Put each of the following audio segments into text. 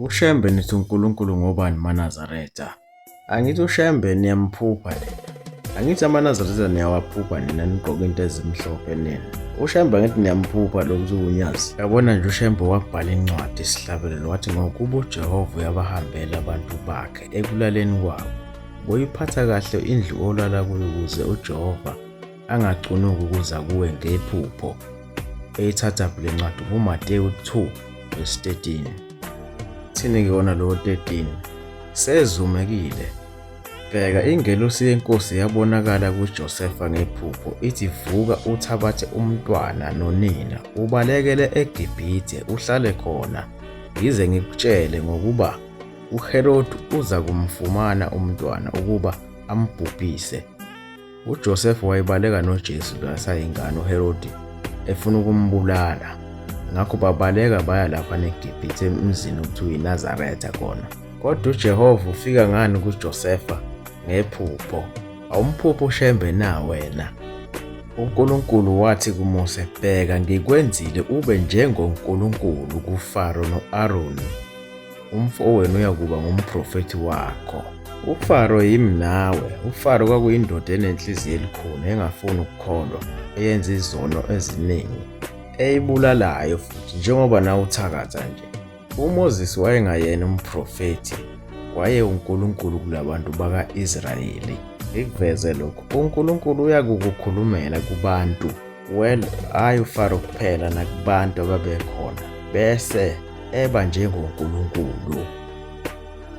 UShembe nithi uNkulunkulu ngobani maNazaretha? Angithi uShembe niyamphupha nina. Angithi amaNazaretha niyawaphupha nina nigqoke into ezimhlophe nina. UShembe angithi niyamphupha lo ukuthi uNyazi. Yabona nje uShembe wabhala incwadi isihlabelelo wathi ngokuba uJehova uyabahambela abantu bakhe ekulaleni kwabo. Boyiphatha kahle indlu olala kuyo ukuze uJehova angacunuki ukuza kuwe ngephupho. Eyithatha le ncwadi nguMateyu 2 verse 13. Thini kuyona lowo 13 sezumekile. Bheka ingelosi yenkosi yabonakala kuJosefa ngephupho ithi vuka uthabathe umntwana nonina ubalekele eGibhithe uhlale khona ngize ngikutshele ngokuba uHerodi uza kumfumana umntwana ukuba ambhubhise. UJosefa wayebaleka noJesu kasayingane uHerodi efuna ukumbulala. Ngakho babaleka baya lapha neGibhithe emzini okuthiwa iNazaretha khona. Kodwa uJehova ufika ngani kuJosefa ngephupho. Awumphupho ushembe na wena? UNkulunkulu wathi kuMose, Bheka, ngikwenzile ube njengoNkulunkulu kuFaro no-Aroni. umfowenu uyakuba ngumprofethi wakho. UFaro yimi nawe. UFaro kwakuyindoda enenhliziyo elikhulu engafuni ukukholwa, eyenza izono eziningi, eyibulalayo futhi njengoba nawe uthakatha nje. UMoses wayengayena umprofethi, waye uNkulunkulu kulabantu baka-Israyeli. Ngikuveze lokhu, uNkulunkulu uyakukukhulumela kubantu Well, hhayi uFaro kuphela nakubantu ababekhona bese eba njengoNkulunkulu.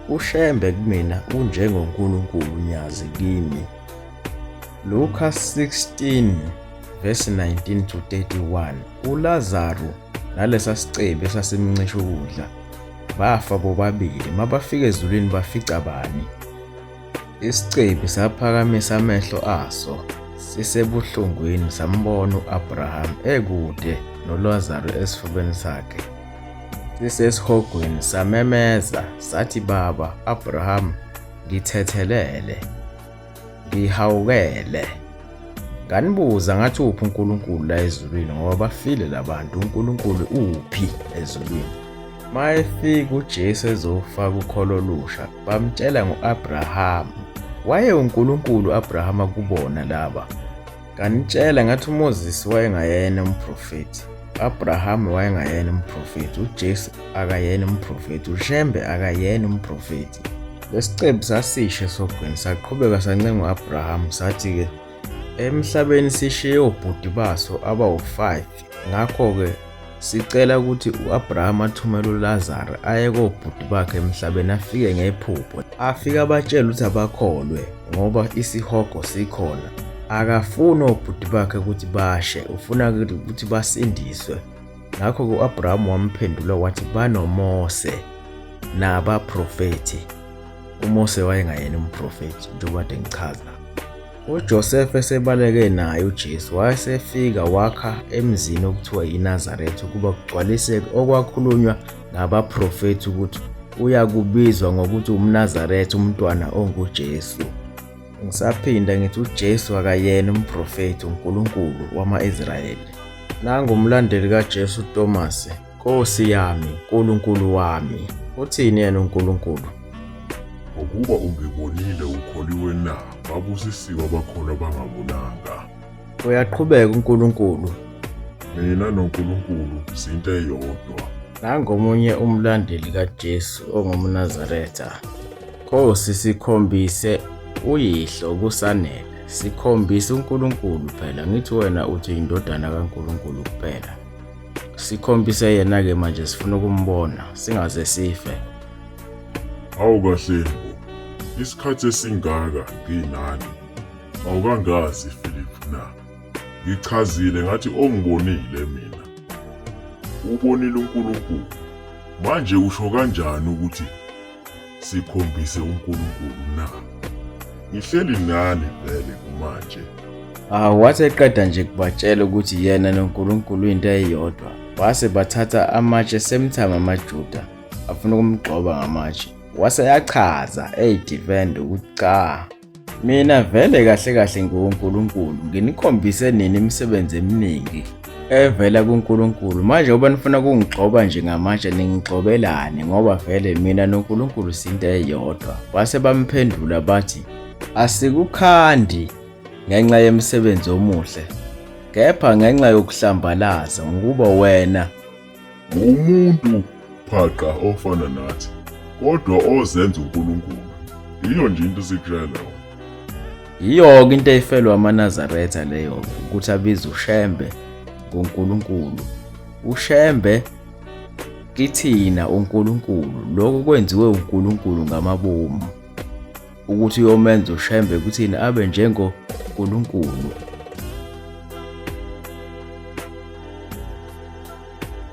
UShembe kumina unjengoNkulunkulu Nyazi kimi. Luka 16 verse 19 to 31 uLazaru nalesa sicebi esasimncisha ukudla bafa bobabili mabafika ezulwini bafica bani Isicebi saphakamisa amehlo aso sisebuhlungwini sambona u-Abraham ekude noLazaru esifubeni sakhe. Sisesihogweni samemeza sathi, Baba, Abraham, ngithethelele, ngihawukele. Nganibuza ngathi uphi uNkulunkulu la ezulwini ngoba bafile labantu uNkulunkulu uphi ezulwini. Mayefika uJesu ezofaka ukholo olusha bamtshela ngo-Abrahama. Waye uNkulunkulu u-Abrahama kubona laba. Kanitshela ngathi uMoses wayengayena umprofethi. U-Abrahama wayengayena umprofethi. UJesu akayena umprofethi. UShembe akayena umprofethi. Lesicebi sasisho esogwini saqhubeka sancenga u-Abrahama sathi-ke emhlabeni sishiye obhuti baso abawu-5 Ngakho-ke sicela ukuthi u-Abraham athumele uLazaro aye kobhuti bakhe emhlabeni afike ngephupho. Afike abatshele ukuthi abakholwe ngoba isihogo sikhona. Akafuni obhuti bakhe ukuthi bashe, ufuna ukuthi basindiswe. Ngakho-ke u-Abraham wamphendula wathi banoMose nabaprofethi. UMose wayengayena umprofethi njengoba kade ngichaza. UJosefa esebaleke naye uJesu wayesefika wakha emzini okuthiwa yiNazaretha ukuba kugcwaliseke okwakhulunywa ngabaprofethi ukuthi uyakubizwa ngokuthi umNazaretha umntwana onguJesu. Ngisaphinda ngithi uJesu akayena umprofethi uNkulunkulu wama-Israyeli. Nangumlandeli kaJesu uTomase. Nkosi yami, Nkulunkulu wami, uthini yena uNkulunkulu? Ngokuba ungibonile ukholiwe na? Babusisiwe abakholwa bangabonanga. Uyaqhubeka uNkulunkulu. Mina noNkulunkulu zinto eyodwa. Nangomunye umlandeli kaJesu ongumNazaretha. Nkosi sikhombise uyihlo kusanele. Sikhombise uNkulunkulu phela, ngithi wena uthi indodana kaNkulunkulu kuphela. sikhombise yena ke manje sifuna ukumbona singaze sife awu kahle isikhathi esingaka nginani awukangazi Philip na ngichazile ngathi ongibonile mina ubonile uNkulunkulu manje usho kanjani ukuthi sikhombise uNkulunkulu na? Ngihleli nani vele kumanje. Ah, wathi eqeda nje kubatshela ukuthi yena noNkulunkulu into eyodwa. Wase bathatha amatshe semthama amaJuda afuna ukumgxoba ngamatshe. Wase yachaza eyi defend ukuthi cha Mina vele kahle kahle ngiwuNkulunkulu, nginikhombise nini imisebenzi eminingi evela kuNkulunkulu. Manje uba nifuna ukungigxoba nje ngamatshe ningigxobelani ngoba vele mina noNkulunkulu sinto eyodwa. Base bamphendula bathi, Asikukhandi ngenxa yemisebenzi omuhle, kepha ngenxa yokuhlambalaza ngokuba wena Ngumuntu phaqa ofana nathi kodwa ozenza uNkulunkulu. Yiyo nje into sikutshela. Yiyo-ke into eyifelwa amaNazaretha leyo-ke ukuthi abize uShembe ngoNkulunkulu. UShembe kithina uNkulunkulu lokho kwenziwe uNkulunkulu ngamabomu ukuthi uyomenza uShembe kuthina abe njengoNkulunkulu.